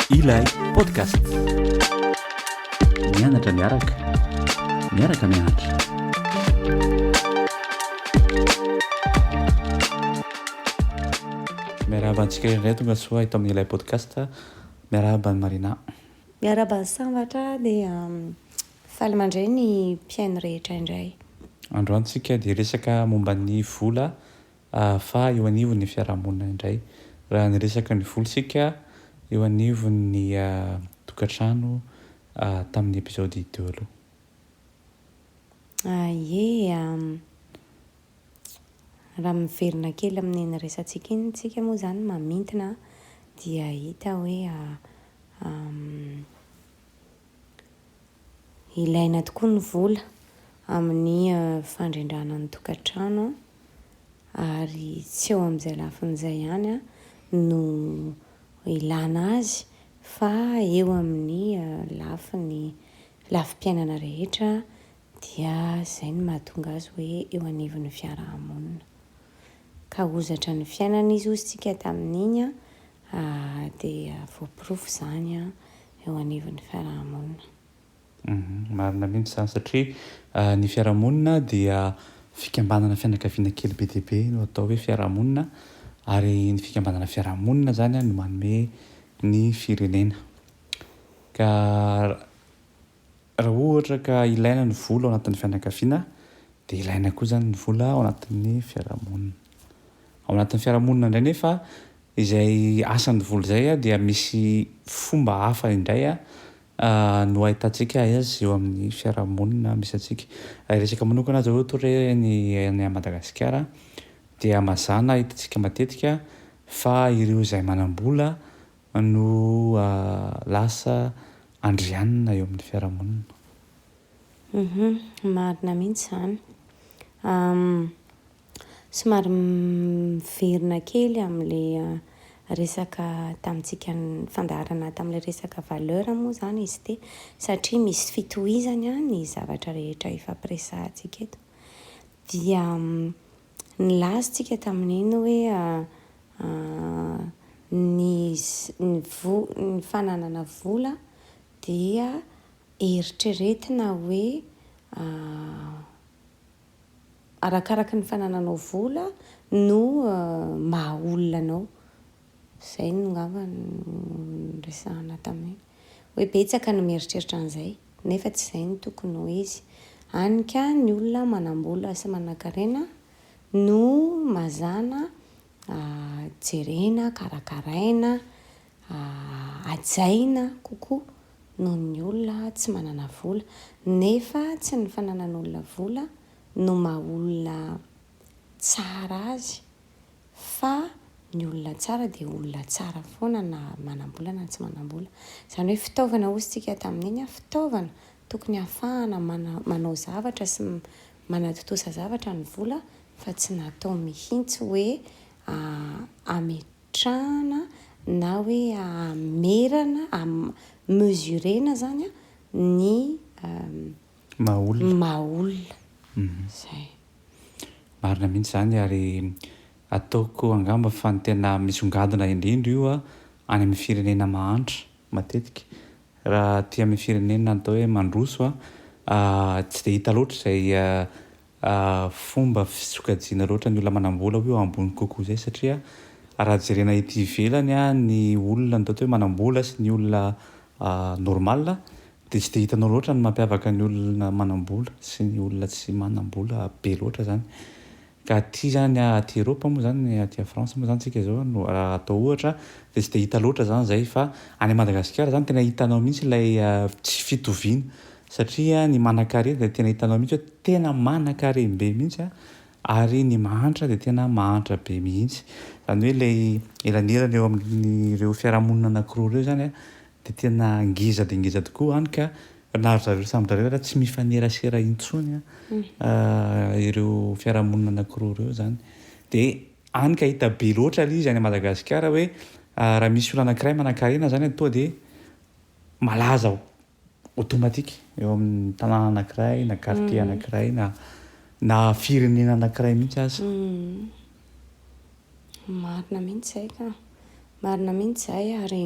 Ilay podcast. Mianatra miaraka. Miaraka mianatra. Miarahaba antsika indray tonga soa eto amin'ny ilay podcast. Miarahaba an'i Marina. Miarahaba an'i Sambatra dia faly mandray ny mpihaino rehetra indray. Androany tsika dia resaka momba ny vola ahafaha eo anivon'ny fiarahamonina indray. Raha niresaka ny vola isika eo anivon'ny tokantrano tamin'ny episode teo aloha. Ah ie ah. Raha miverina kely amin'iny resatsika iny tsika moa izany mamintina dia hita hoe ilaina tokoa ny vola amin'ny fandrindrana ny tokantrano ary tsy eo amin'izay lafiny izay ihany no ilana azy fa eo amin'ny lafiny lafim-piainana rehetra Dia izay no mahatonga azy hoe eo anivon'ny fiaraha-monina. Ka hozatra ny fiainana izy hozy tsika tamin'iny an, dia voaporofo izany eo anivon'ny fiaraha-monina. Marina mihitsy izany satria ny fiaraha-monina dia fikambanana fianakaviana kely be dia be no atao hoe fiaraha-monina ary ny fikambanana fiaraha-monina izany an no manome ny firenena. Ka. Raha ohatra ka ilaina ny vola ao anatin'ny fianakaviana dia ilaina koa izany ny vola ao anatin'ny fiarahamonina. Ao anatin'ny fiarahamonina indray nefa izay asan'ny vola izay dia misy fomba hafa indray no ahitantsika azy eo amin'ny fiarahamonina misy antsika. Raha hiresaka manokana aza ohatra hoe ny any à Madagasikara dia mazàna hitantsika matetika fa ireo izay manam-bola no lasa andrianina eo amin'ny fiarahamonina. Humm marina mihitsy izany. Somary miverina kely amin'ilay resaka tamintsika fandaharana tamin'ilay resaka valeur moa izany izy ity satria misy fitohizany ny zavatra rehetra efa ampiresahantsika eto dia Nilaza tsika tamin'iny hoe ny ny fananana vola dia eritreretina hoe arakaraka ny fanananao vola no maha olona anao. Izay no ngamba no niresahana tamin'iny. Hoe betsaka no mieritreritra an'izay, nefa tsy izay no tokony ho izy. Hany ka ny olona manam-bola sy manan-karena no mazàna jerena, karakaraina, hajaina kokoa noho ny olona tsy manana vola. Nefa tsy ny fananan'olona vola no maha olona tsara azy fa ny olona tsara dia olona tsara foana na manam-bola na tsy manam-bola. Izany hoe fitaovana hoy isika tamin'iny an, fitaovana tokony hahafahana manao zavatra sy manatontosa zavatra ny vola fa tsy natao mihitsy hoe hametrahana na hoe hamerana, mesurer-na izany an ny maha olona. Maha olona. Izay. Marina mihitsy izany ary ataoko angamba fa ny tena misongadina indrindra io any amin'ny firenena mahantra matetika. Raha aty amin'ny firenena atao hoe mandroso, tsy dia hita loatra izay fomba fisokajiana loatra ny olona manambola ho eo ambony kokoa izay satria raha jerena ety ivelany ny olona ny ataontsika hoe manambola sy ny olona normal dia tsy dia hitanao loatra ny mampiavaka ny olona manambola sy ny olona tsy manambola be loatra izany ka aty izany aty Eropa moa izany aty à France moa izany isika izao no raha atao ohatra dia tsy dia hita loatra izany izay fa any Madagasikara izany tena hitanao mihintsy ilay tsy fitoviana Satria ny manakarea dia tena hitanao mihitsy hoe tena manakariam-be mihitsy an, ary ny mahantra dia tena mahantra be mihitsy. Izany hoe ilay elanelana eo amin'ireo fiarahamonina anankiroa ireo izany an, dia tena ngeza dia ngeza tokoa hany ka na ry zareo samy zareo ary tsy mifanerasera intsony ireo fiarahamonina anankiroa ireo izany. Dia hany ka hita be loatra ilay izy any Madagasikara hoe raha misy olona anankiray manankarena izany an, tonga dia malaza ao. automatique eo amin'ny tanàna anankiray na quartier anankiray na na firenena anankiray mihitsy aza. Marina mihitsy izay ka. Marina mihitsy izay ary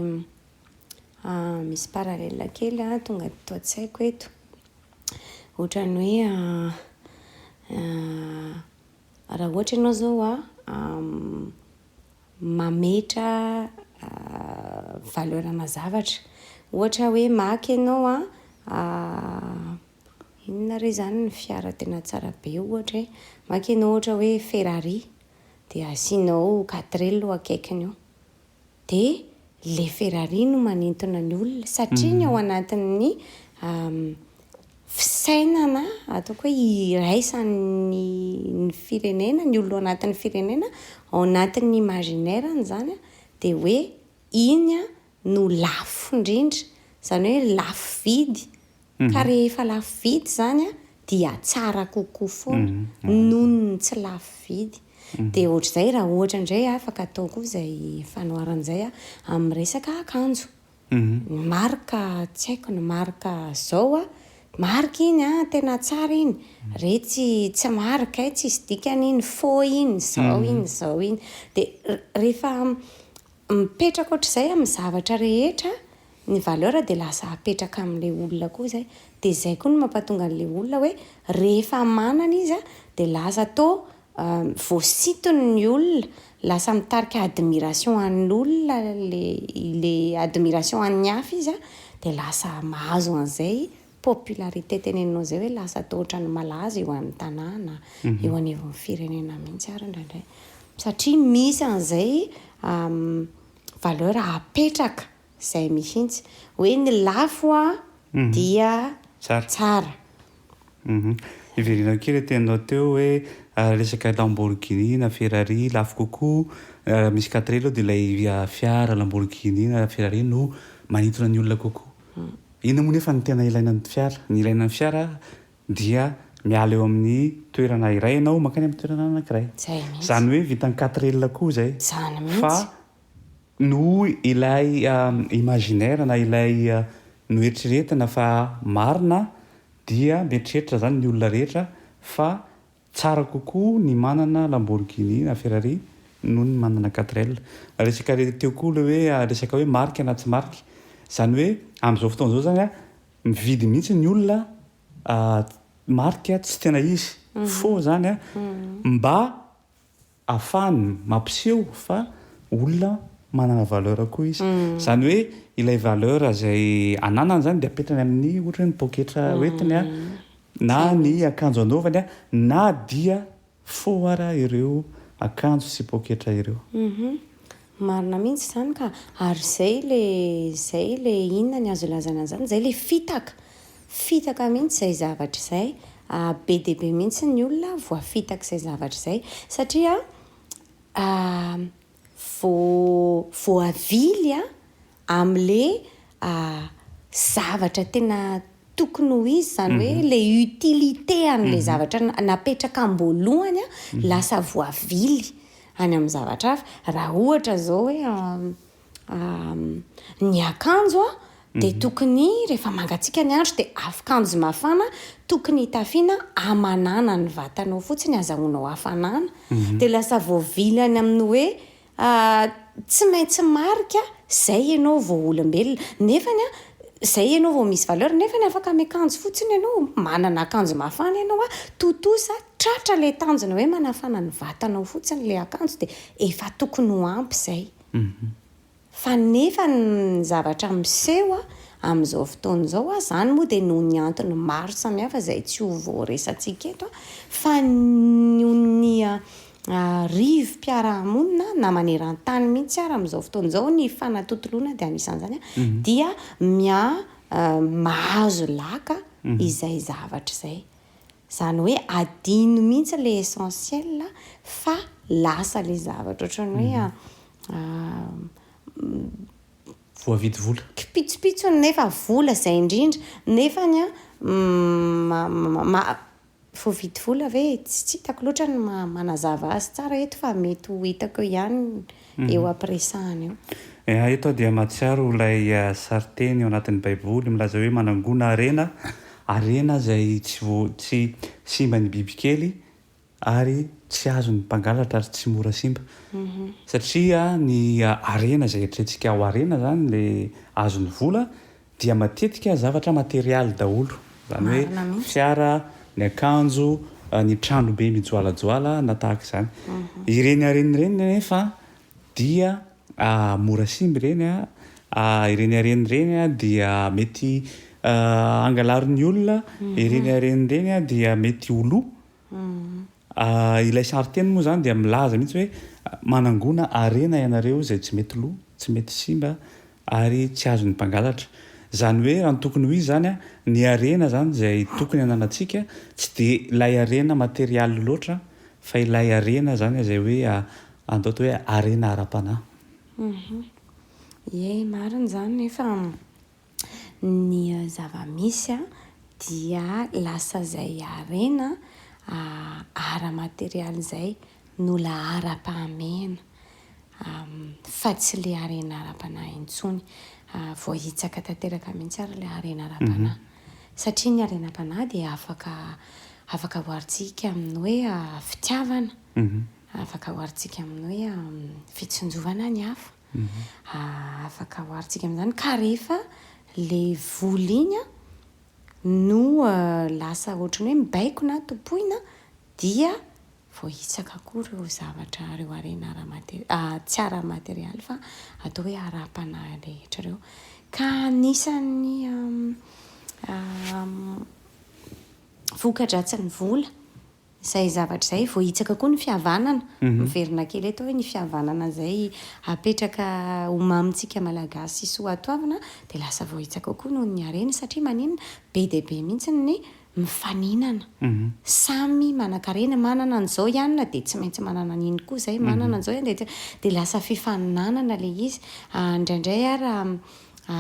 misy parallèle kely a tonga teto an-tsaiko eto. Ohatran'ny hoe Raha ohatra ianao izao mametra valeur ana zavatra. Ohatra hoe maty ianao an, inona re izany ny fiara tena tsara be ohatra e? Maty ianao ohatra hoe Ferrari dia asianao quatre elo eo akaikiny eo. dia ilay Ferrari no manintona ny olona satria ny ao anatin'ny fisainana ataoko hoe iraisan'ny ny firenena, ny olona ao anatin'ny firenena, ao anatin'ny imaginaire-ny izany dia hoe iny no lafo indrindra, izany hoe lafo vidy. Ka rehefa lafo vidy izany dia tsara kokoa foana noho ny tsy lafo vidy. Dia ohatr'izay raha ohatra indray afaka atao koa izay fanoharana izay amin'ny resaka akanjo. Ny marque tsy haiko ny marque izao, marque iny an, tena tsara iny, re tsy tsy marque eh, tsisy dikany iny, faux iny, izao iny, izao iny. Dia rehefa Mipetraka ohatr'izay amin'ny zavatra rehetra ny valeur dia lasa apetraka amin'ilay olona koa izay. Dia izay koa no mampatonga an'ilay olona hoe rehefa manana izy dia lasa toa voasintony ny olona, lasa mitarika admiration an'olona ilay admiration an'ny hafa izy dia lasa mahazo an'izay popularité teneninao zay hoe lasa toa ohatran'ny malaza eo an'ny tanàna, eo anivon'ny firenena mihitsy ary indraindray. Satria misy an'izay valeur apetraka izay mihitsy. Hoe ny lafo dia tsara. Hiverenako kely ilay teninao teo hoe resaka Lamborghini na Ferrari lafo kokoa, raha misy quatre roues dia ilay fiara Lamborghini na Ferrari no manintona ny olona kokoa. Inona moa nefa no tena ilaina ny fiara? Ny ilaina ny fiara dia miala eo amin'ny toerana iray ianao mankany amin'ny toerana anankiray. Izany hoe vitan'ny quatrelle koa izay. Fa noho ilay imaginaire na ilay noeritreretina fa marina dia mieritreritra izany ny olona rehetra fa Tsara kokoa ny manana Lamborghini na Ferrari noho ny manana quatrel. Resaka teo koa le hoe resaka hoe marika na tsy marika. Zany hoe amzao fotoana zao zany an, mividy mihitsy ny olona marika tsy tena izy. Faux zany an, mba Afany mampiseho fa olona manana valeur koa izy. Izany hoe ilay valeur izay ananany izany dia apetrany amin'ny ohatra hoe ny poketra hoentiny na ny akanjo anaovany na dia fo ara ireo akanjo sy poketra ireo. Marina mihintsy izany ka! Ary zay le zay le inona ny azo ilazana an'izany? Izay le fitaka! Fitaka mihintsy izay zavatra izay! Be dia be mihintsy ny olona voafitak'izay zavatra izay satria voa voavily amle zavatra tena tokony ho izy zany hoe le utilité anle zavatra napetraka amboalohany a lasa voavily any am zavatra hafa ra ohatra zao hoe ny akanjo a de tokony refa mangatsika ny andro de afkanjo mafana tokony hitafiana amanana ny vatanao fotsiny azahoanao hafanana de lasa voavily any aminy hoe Ahh tsy maintsy marika zay ianao vao olombelona nefany an zay ianao vao misy valeur nefany afaka miakanjo fotsiny ianao manana akanjo mafana ianao an tontosa tratra ilay tanjona hoe manafana ny vatanao fotsiny ilay akanjo dia efa tokony ho ampy zay fa nefa ny zavatra miseho an amin'izao fotoana izao an zany moa dia noho ny antony maro samihafa izay tsy ho voaresantsika eto an fa noho ny Arivo mpiara-monina na maneran-tany mihitsy ary amin'izao fotoana izao ny fanatontoloana dia anisan'izany dia miha mahazo laka izay zavatra izay. Izany hoe adino mihitsy ilay essentiel fa lasa ilay zavatra ohatran'ny hoe Voavidy vola. kipitsopitsony nefa vola izay indrindra nefany an Voavidy vola ve? Tsy hitako loatra ny maha manazava azy tsara eto fa mety ho hitako eo ihany eo ampiresahana eo. Eha, eto aho dia mahatsiaro ilay sarin-teny ao anatin'ny Baiboly milaza hoe manangona harena, harena izay tsy vo, tsy simban'ny bibikely ary tsy azon'ny mpangalatra ary tsy mora simba. Satria ny harena izay eritreretintsika ho harena izany ilay azon'ny vola dia matetika zavatra materialy daholo, izany hoe fiara, ny akanjo, ny trano be mijoalajoala na tahaka izany. Ireny harena ireny anefa dia mora simba ireny, ireny harena ireny dia mety angalarin'ny olona, ireny harena ireny dia mety ho lo. Ilay sarinteny moa izany dia milaza mihitsy hoe manangona harena ianareo izay tsy mety lo, tsy mety simba ary tsy azon'ny mpangalatra. Izany hoe raha ny tokony ho izy izany, ny harena izany izay tokony hananantsika tsy dia ilay harena materialy loatra fa ilay harena izany izay hoe andao atao hoe harena ara-panahy. Ie, marina izany nefa. Ny zava-misy dia lasa izay harena ara-materialy izay no laharam-pahamehana fa tsy ilay harena ara-panahy intsony. Voahitsaka tanteraka mihitsy ary ilay harena ara-panahy. Satria ny harenam-panahy dia afaka afaka oharintsika amin'ny hoe fitiavana, afaka oharintsika amin'ny hoe fitsinjovana ny hafa. Afaka oharintsika amin'izany ka rehefa ilay vola iny no lasa ohatran'ny hoe mibaiko na tompoina dia vao hitsaka koa ireo zavatra, ireo harena ara-mate- tsy ara-materialy fa atao hoe ara-panahy rehetra ireo. Ka anisan'ny vokadratsin'ny vola. Izay zavatra izay voahitsaka koa ny fihavanana, miverina kely eto hoe ny fihavanana izay apetraka ho mamintsika Malagasy soatoavina dia lasa voahitsaka koa noho ny hareny satria maninona? be dia be mihitsy ny mifaninana, samy manankarena, manana an'izao ianona dia tsy maintsy manana an'iny koa izay, manana an'izao ianona dia dia lasa fifaninanana ilay izy, indraindray ary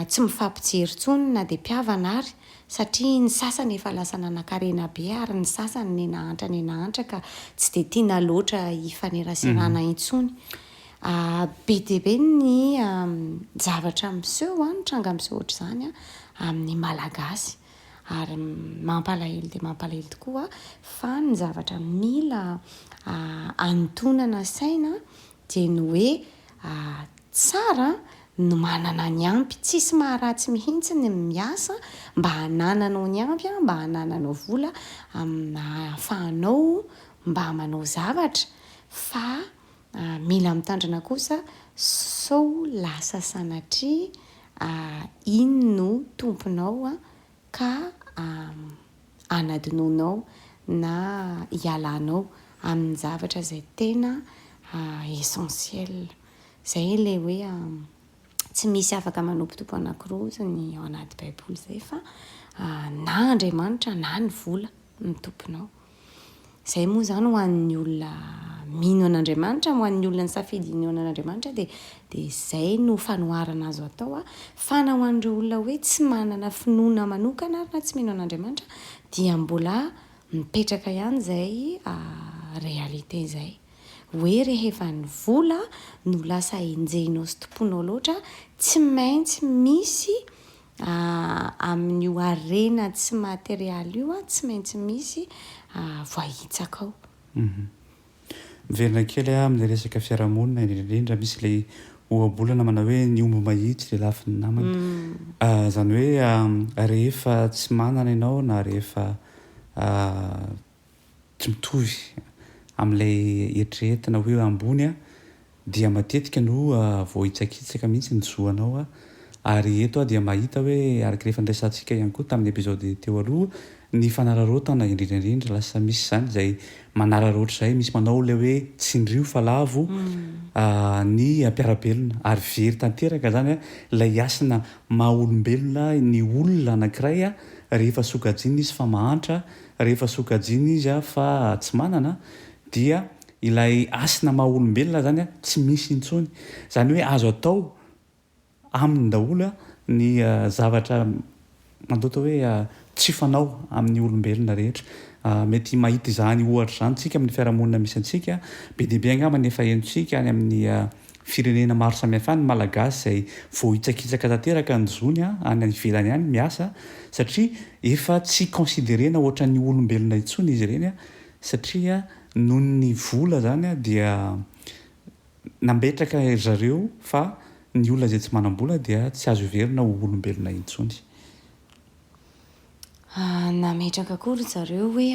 tsy mifampijery intsony na dia mpihavana ary satria ny sasany efa lasa nanankarena be ary ny sasany nenahantra nenahantra ka tsy dia tiana loatra hifaneraserana intsony. Be dia be ny zavatra miseho, ny tranga miseho ohatr'izany amin'ny Malagasy ary mampalahelo dia mampalahelo tokoa fa ny zavatra mila hanintonana saina Dia ny hoe tsara no manana ny ampy, tsisy maharatsy mihitsy ny miasa mba hanananao ny ampy, mba hanananao vola amina ahafahanao mba manao zavatra fa mila mitandrina kosa sao lasa sanatria iny no tomponao ka hanadinoanao na hialanao amin'ny zavatra izay tena essentiel. Izay ilay hoe tsy misy afaka manopotopo anankiroa izany ao anaty Baiboly izay fa na Andriamanitra na ny vola no tomponao. Izay moa izany ho an'ny olona mino an'Andriamanitra, ho an'ny olona nisafidy hinoana an'Andriamanitra dia dia izay no fanoharana azo atao a. Fa na ho an'ireo olona hoe tsy manana finoana manokana ary na tsy mino an'Andriamanitra dia mbola mipetraka ihany izay réalité izay. Hoe rehefa ny vola no lasa enjehinao sy tompoinao loatra tsy maintsy misy Amin'io harena tsy materialy io tsy maintsy misy voahitsaka ao. Miverina kely aho amin'ny resaka fiarahamonina indrindra indrindra misy ilay ohabolana manao hoe ny omby mahitsy dia lafiny namany. Izany hoe rehefa tsy manana ianao na rehefa Tsy mitovy amin'ilay eritreretina hoe eo ambony aho dia matetika no voahitsakitsaka mihitsy ny zo anao ary eto aho dia mahita hoe araka ilay efa niresahantsika ihany koa tamin'ny episode teo aloha ny fanararaotana indrindra indrindra lasa misy izany izay manararaotra izay misy manao ilay hoe tsindrio fa lavo ny mpiara-belona ary very tanteraka izany ilay hasina maha olombelona ny olona anankiray rehefa sokajiana izy fa mahantra Rehefa sokajiana izy fa tsy manana dia ilay hasina maha olombelona izany tsy misy intsony. Izany hoe azo atao aminy daholo ny zavatra mandoto hoe tsy fanao amin'ny olombelona rehetra. Mety mahita izany ohatra izany tsika amin'ny fiarahamonina misy antsika. Be dia be angamba ny efa henontsika any amin'ny Firenena maro samihafa any ny Malagasy izay voahitsakitsaka tanteraka ny zony any any ivelany any miasa satria efa tsy considerena ohatran'ny olombelona intsony izy ireny satria noho ny vola izany dia nambetraka ry zareo fa ny olona izay tsy manam-bola dia tsy azo heverina ho olombelona intsony. Nametraka koa ry zareo hoe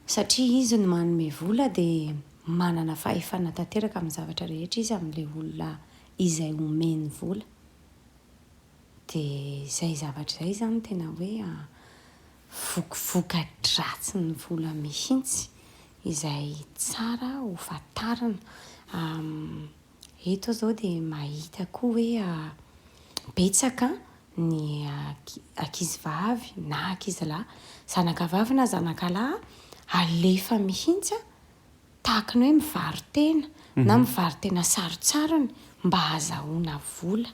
Satria izy no manome vola dia manana fahefana tanteraka amin'ny zavatra rehetra izy amin'ilay olona izay omeny vola. Dia izay zavatra izay izany tena hoe vokovokadratsin'ny vola mihitsy izay tsara hofantarina. Eto aho izao dia mahita koa hoe betsaka ny ankizivavy na ankizilahy, zanakavavy na zanakalahy alefa mihitsy tahaka ny hoe mivaro-tena na mivaro-tena sarontsarony mba hahazahoana vola.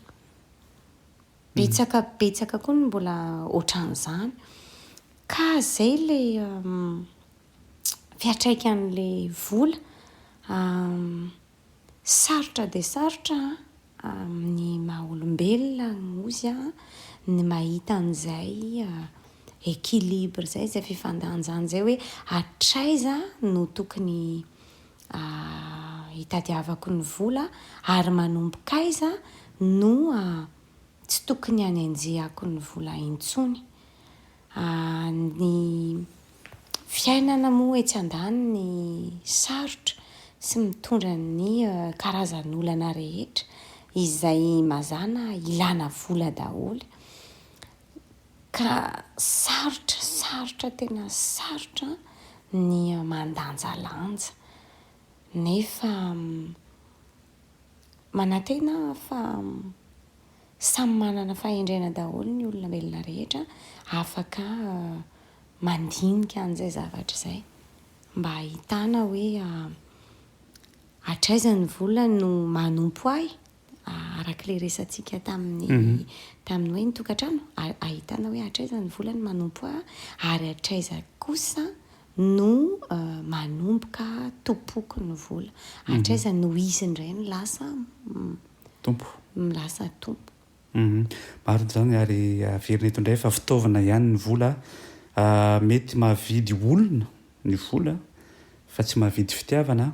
Betsaka betsaka koa ny mbola ohatran'izany. Ka izay ilay fiantraikan'ilay vola. Sarotra dia sarotra amin'ny maha olombelona ozy ny mahita an'izay équilibre izay, izay fifandanjana izay hoe hatraiza no tokony hitadiavako ny vola ary manomboka aiza no tsy tokony hanenjehako ny vola intsony. Ny fiainana moa etsy andaniny sarotra sy mitondra ny karazan'olana rehetra izay mazàna ilàna vola daholo ka sarotra, sarotra tena sarotra ny mandanjalanja nefa manantena fa samy manana fahendrena daholo ny olona velona rehetra afaka ah, mandinika an'izay zavatra izay mba ahitana hoe ah, hatraiza ny vola no manompo ahy ah, arak'ilay resantsika tamin'ny mhm. tamin'ny hoe ny tokantrano ahitana hoe hatraiza ny vola no manompo ahy ary hatraiza kosa no manomboka tompoky ny vola. Hatraiza no izy indray no lasa Tompo. lasa tompo. Marina izany ary averina eto indray fa fitaovana ihany ny vola. Mety mahavidy olona ny vola fa tsy mahavidy fitiavana.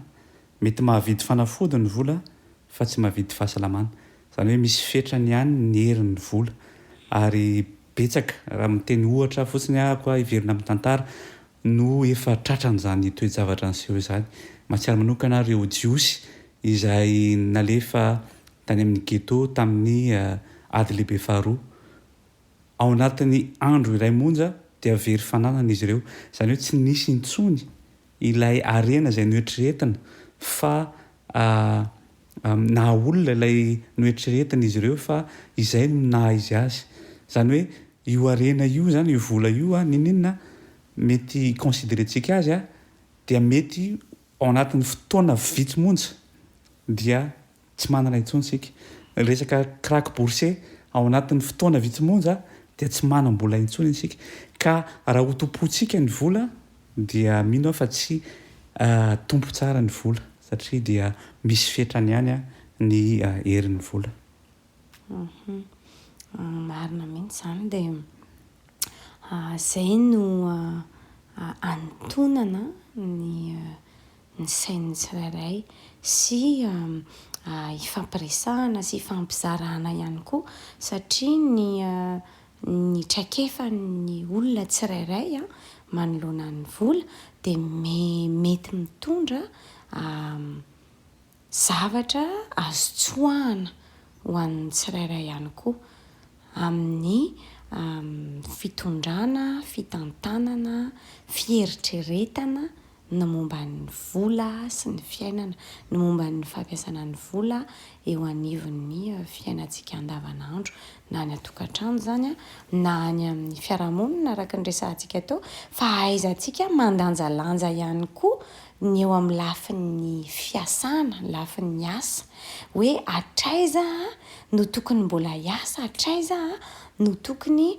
Mety mahavidy fanafody ny vola fa tsy mahavidy fahasalamana. Izany hoe misy fetrany ihany ny herin'ny vola ary Betsaka, raha miteny ohatra fotsiny ahako hiverina amin'ny tantara, no efa tratran'izany toe-javatra niseho izany. Mahatsiaro manokana aho ireo Jiosy izay nalefa tany amin'ny ghetto tamin'ny Ady Lehibe Faharoa. Ao anatin'ny andro iray monja dia very fananana izy ireo, izany hoe tsy nisy intsony ilay harena izay noeritreretina fa naha olona ilay noeritreretin'izy ireo fa izay no naha izy azy. Izany hoe io harena io izany, io vola io, n'inon'inona mety hi-considerentsika azy, dia mety ao anatin'ny fotoana vitsy monja dia tsy manana intsony isika. Ny resaka crack boursier, ao anatin'ny fotoana vitsy monja dia tsy manam-bola intsony isika. Ka raha hotompointsika ny vola, Dia mino aho fa tsy tompo tsara ny vola satria dia misy fetrany ihany ny herin'ny vola. Humm marina mihitsy izany dia izay no anintonana ny ny sain'ny tsirairay sy hifampiresahana sy hifampizarana ihany koa satria ny Ny traikefan'ny olona tsirairay manoloana ny vola dia mety mitondra zavatra azo tsoahana ho an'ny tsirairay ihany koa amin'ny fitondrana, fitantanana, fieritreretana ny momba ny vola sy ny fiainana, ny momba ny fampiasana ny vola eo anivon'ny fiainantsika andavanandro, na any an-tokantrano izany na any amin'ny fiarahamonina araka ny resahantsika teo, fa ahaizantsika mandanjalanja ihany koa ny eo amin'ny lafin'ny fiasana, ny lafin'ny asa, hoe hatraiza aho no tokony mbola hiasa, hatraiza aho no tokony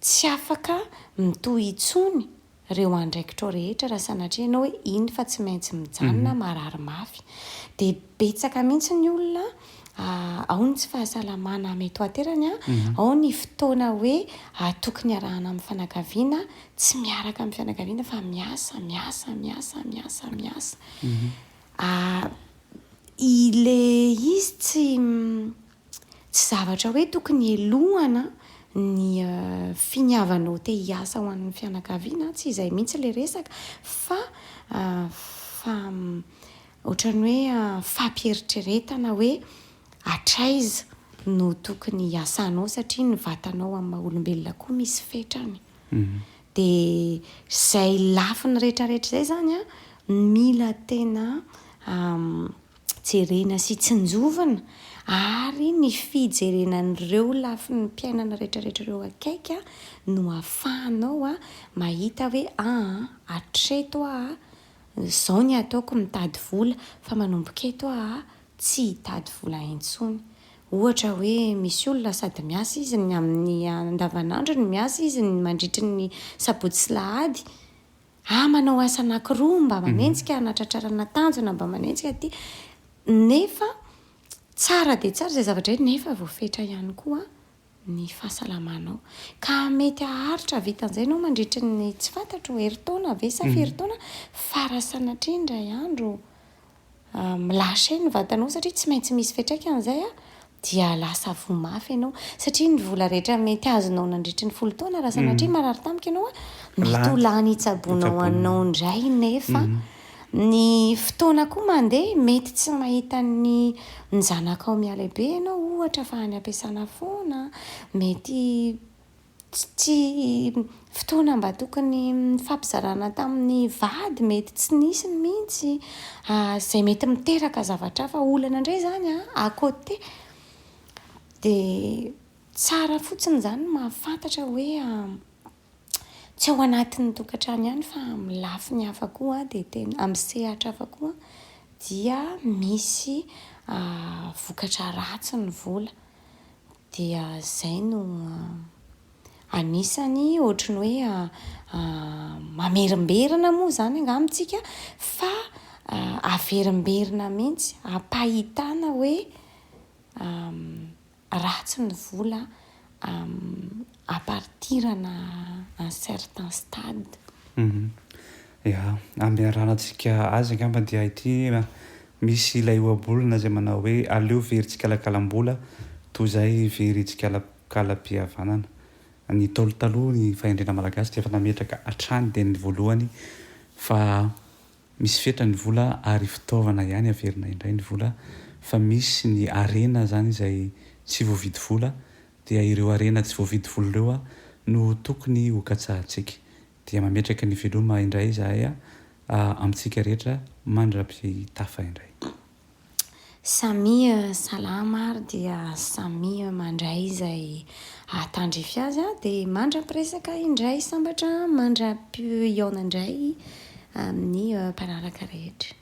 Tsy afaka mitohy intsony ireo andraikitrao rehetra raha sanatria ianao hoe iny fa tsy maintsy mijanona, marary mafy. Dia betsaka mihitsy ny olona, ao ny tsy fahasalamana mety ho aterany, ao ny fotoana hoe atoky ny iarahana amin'ny fianakaviana, tsy miaraka amin'ny fianakaviana fa miasa, miasa, miasa, miasa, miasa. Ilay izy tsy. Tsy zavatra hoe tokony helohana ny finiavanao te hiasa ho an'ny fianakaviana, tsy izay mihitsy ilay resaka fa fa ohatran'ny hoe fampieritreretana hoe hatraiza no tokony hiasanao satria ny vatanao amin'ny maha olombelona koa misy fetrany. Dia izay lafiny rehetrarehetra izay izany an, mila tena jerena sy tsinjovina ary ny fijerena an'ireo lafin'ny mpiainana rehetrarehetra ireo akaiky no afahanao mahita hoe aa hatreto aho izao ny ataoko mitady vola fa manomboka eto aho tsy hitady vola intsony. Ohatra hoe misy olona sady miasa izy ny amin'ny andavanandrony, miasa izy ny mandritry ny sabotsy sy lahady, Ah manao asa anakiroa mba manenjika hanatratrarana tanjona mba manenjika aty nefa tsara dia tsara izay zavatra izay nefa voafetra ihany koa ny fahasalamanao ka mety haharitra havita an'izay ianao mandritry ny tsy fantatro herintaona ve sa firy taona fa raha sanatria indray andro Milasa eny ny vatanao satria tsy maintsy misy fiantraikany izay a, dia lasa voa mafy ianao satria ny vola rehetra mety azonao nandritry ny folo taona raha sanatria marary tampoka ianao a, mety ho lany hitsaboana ho anao indray nefa ny fotoana koa mandeha mety tsy mahita ny ny zanakao mihalehibe ianao ohatra fa any am-piasana foana, mety. Tsy fotoana mba tokony nifampizarana tamin'ny vady mety tsy nisy mihitsy izay mety miteraka zavatra hafa, olana indray izany à côté. Dia tsara fotsiny izany ny mahafantatra hoe tsy ao anatin'ny tokantrano ihany fa amin'ny lafiny hafa koa dia tena, amin'ny sehatra hafa koa dia misy vokatra ratsy ny vola. dia izay no anisany ohatry ny hoe mamerimberina moa izany angah amintsika fa averimberina mihitsy ampahitana hoe ratsy ny vola à partir ana un certain stade. Ya, ambiaranantsika azy angamba dia ity, misy ilay ohabolana izay manao hoe aleo very tsikalakalam-bola toy izay very tsikalakalam-pihavanana. Ny Ntaolo taloha ny fahendrena malagasy dia efa nametraka hatrany dia ny voalohany fa misy fetra ny vola ary fitaovana ihany averina indray ny vola fa misy ny harena izany izay tsy voavidy vola Dia ireo harena tsy voavidy vola ireo a no tokony ho katsahantsika. Dia mametraka ny veloma indray izahay a amintsika rehetra mandra-pitafa indray. Samia salama ary dia samia mandray izay ahatandrify azy a dia mandra-piresaka indray sambatra mandra-pihaona indray amin'ny mpanaraka rehetra.